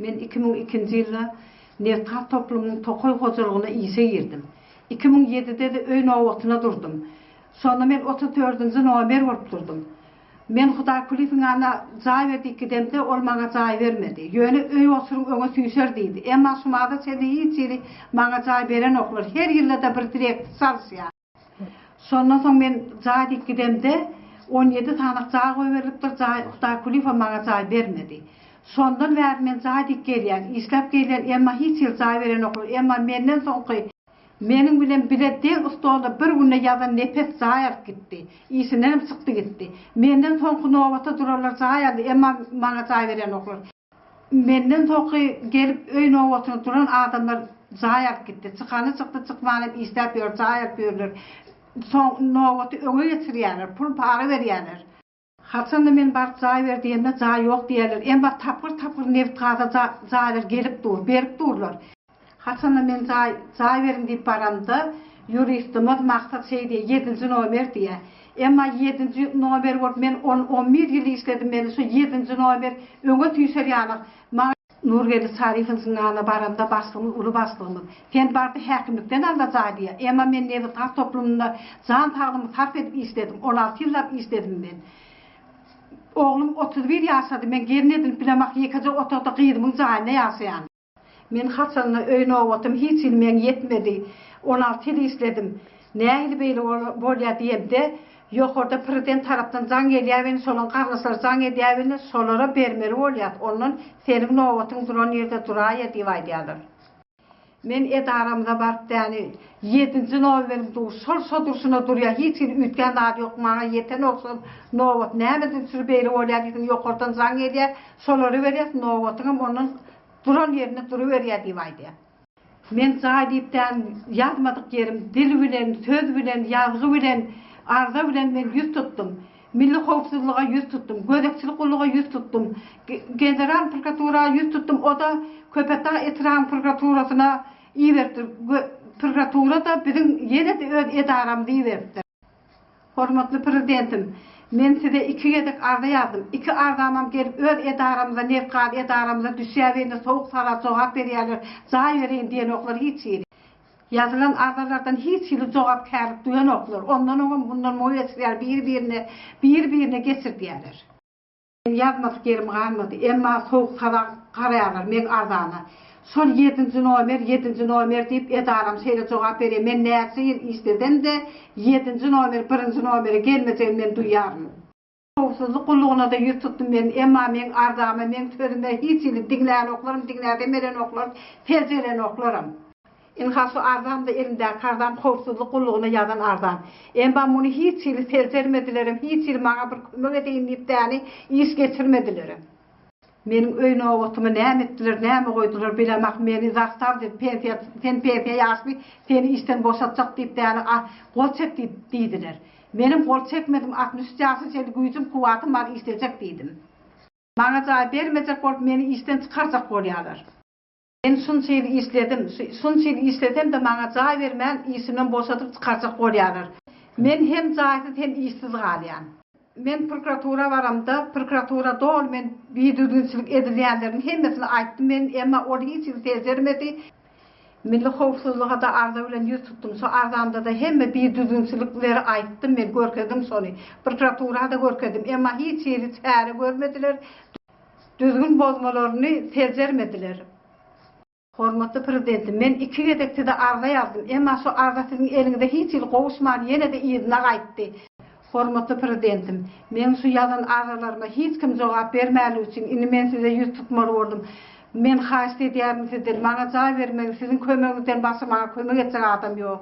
Men iki müň ikinji ýylda Nebtgaz toplumynyň tokaý hojalygyna işe girdim. Iki müň ýedide-de öý nobatyna durdum. Şonda men otuz dördünji nomer bolup durdum. Men Hudaýkulyýewiň ýanyna jaý berdik gidemde, ol maňa jaý bermedi. Ýöne öý osuryň öňe süýşer diýdi. Emma şumada çenli hiç hili maňa jaý berenoklar. Her ýylda-da bir direkti çalyşýar. Şondan soň men jaý diýip gidemde, on ýedi sanak jaý goýberlipdir, jaý Hudaý Kulyýewa maňa jaý bermedi. Şondan bäri men jaý diýip gelýän, işläp gelýän, emma hiç ýyl jaý berenoklar, emma menden soňky, meniň bilen bile deň stolda bir günde ýazan nepes jaý alyp gitdi, işindenem çykdy gitdi, menden soňky nobata duranlar jaý aldy, emma maňa jaý berenoklar. Menden soňky gelip öý nobatyna duran adamlar jaý alyp gitdi. Çykany çykdy, çykmanam işläp ýör, jaý alyp ýörler. Soň nobaty öňe geçirýärler, pul-para berýärler. Haçanda men baryp jaý ber diýemde jaý ýok diýýärler. Emma tapgyr-tapgyr nebit-gaza jaýlar gelip dur, berip durlar. Haçanda men jaý, jaý beriň diýip baramda, ýuristimiz Maksat şeý diýýär, ýedinji nomer diýýär. Emma ýedinji nomer bolup men on, on bir ýyl işledim, meni şu ýedinji nomer öňe süýşer ýaly. Maňa. Nurgeldi Şarifiň zyňagyna baranda başlygymyz, uly başlygymyz, Sen bardy häkimlikden al-da jaý diýýär. Emma men nebitgaz toplumynda jan saglygymy sarp edip işledim. On alty ýyllap işledim men. Oglum otuz bir ýaşady, men gelin edinip bilemok, ýekeje otagda gyzymyň jaýynda ýaşaýan. Men haçanda öý nobatym hiç il meň ýetmedi. On alty ýyl işledim. Nähili beýle bolýa diýemde, ýokarda prezident tarapdan jaň gelýäbeni şolaň garyndaşlary jaň edýäbeni şolara bermeli bolýas ondan seniň nobatyň duran ýerde duraýa diýip aýdýarlar. Men edaramyza baryp däni ýedinji nomerim dur şol şo durşuna durýa hiç il üýtgän zady ýok maňa ýeten ogsan nobat näme üçir beýle bolýa diýsin ýokardan jaň gelýä Solary berýäs, nobatyňam ondan duran ýerinde duruberýär diýip aýdýar. Men jaý diýip däl, ýazmadyk ýerim, dil bilen, söz bilen, ýazgy bilen, arza bilen men ýüz tutdum. Milli howpsuzlyga ýüz tutdum, gözegçilik gulluga ýüz tutdum, General prokuratura ýüz tutdum, o-da Köpetdag etrabynyň prokuraturasyna iberipdir, prokuratura-da biziň ýene-de öz edaramyza iberipdir. Hormatly Prezidentim, men Size iki gezek arza ýazdym. Iki arzamam gelip öz edaramyza, Nebtgaz edaramyza düşýäbende sowuk sala jogap berýärler, jaý bereýin diýenoklar hiç hili. Ýazylan arzalardan hiç hili jogapkärlik duýanoklar. Ondan oňam, mundan muňam ýetişýär, biri-birine, biri-birine geçirdýärler. Meň ýazmasy ýerim galmady. Emma sowuk saza garaýarlar meň arzana. Şol ýedinji nomer, ýedinji nomer diýip edaram şeýle jogap berýär. Men näçe ýyl işlesem-de, ýedinji nomer birinji nomere gelmejegini men duýýaryn. Howpsuzlyk gullugyna-da ýüz tutdum men. Emma meň arzama, meň sözüme hiç hili diňlänoklarm, diňläsem berenoklar, seljelenoklarm. Ynha şu arzamda elimdäki arzam howpsuzlyk gullugyna ýazan arzam. Emma muny hiç hili seljermedilerem, hiç hili maňa bir kömek edeýin diýip däni iş geçirmedilerem. Meniň öý nobatymy näme etdiler, näme goýdular bilemok, meni zastaw diýip, pensiýa, sen pensiýa ýaşly, seni işden boşatjak diýip däni a, gol çek diýip, diýdiler. Menem gol çekmedim, altmyş üç ýaşly çenli güýjüm, kuwwatym bar, işlejek diýdim. Maňa jaý bermejek bolup, meni işden çykarjak bolýarlar. Men şunça ýyl işledim, şunça ýyl işlesem-de maňa jaý bermän, işimden boşadyp çykarjak bolýarlar. Men hem jaýsyz hem işsiz galýan. Men prokuratura baramda, prokuratura doly men bidüzgünçilik edilýänleriň hemmesini aýtdym men, emma ol hiç hili seljermedi. Milli howpsuzlyga-da arza bilen ýüz tutdum. Şo arzamda-da hemme bidüzgünçilikleri aýtdym men, görkezdim şony. Prokuratura-da görkezdim, emma hiç hili çäre görmediler. Düzgün bozmalaryny seljermediler. Hormatly Prezidentim, men iki gezek Size arza ýazdym, emma şu arza Siziň eliňize hiç hili gowuşman, ýene-de yzyna gaýtdy. Hormatly Prezidentim, meň şu ýazan arzalaryma hiç kim jogap bermänligi üçin, indi men Size ýüz tutmaly boldum. Men haýyşt edýärin Sizden, maňa jaý bermegiň, Siziň kömegiňizden başga maňa kömek etjek adam ýok.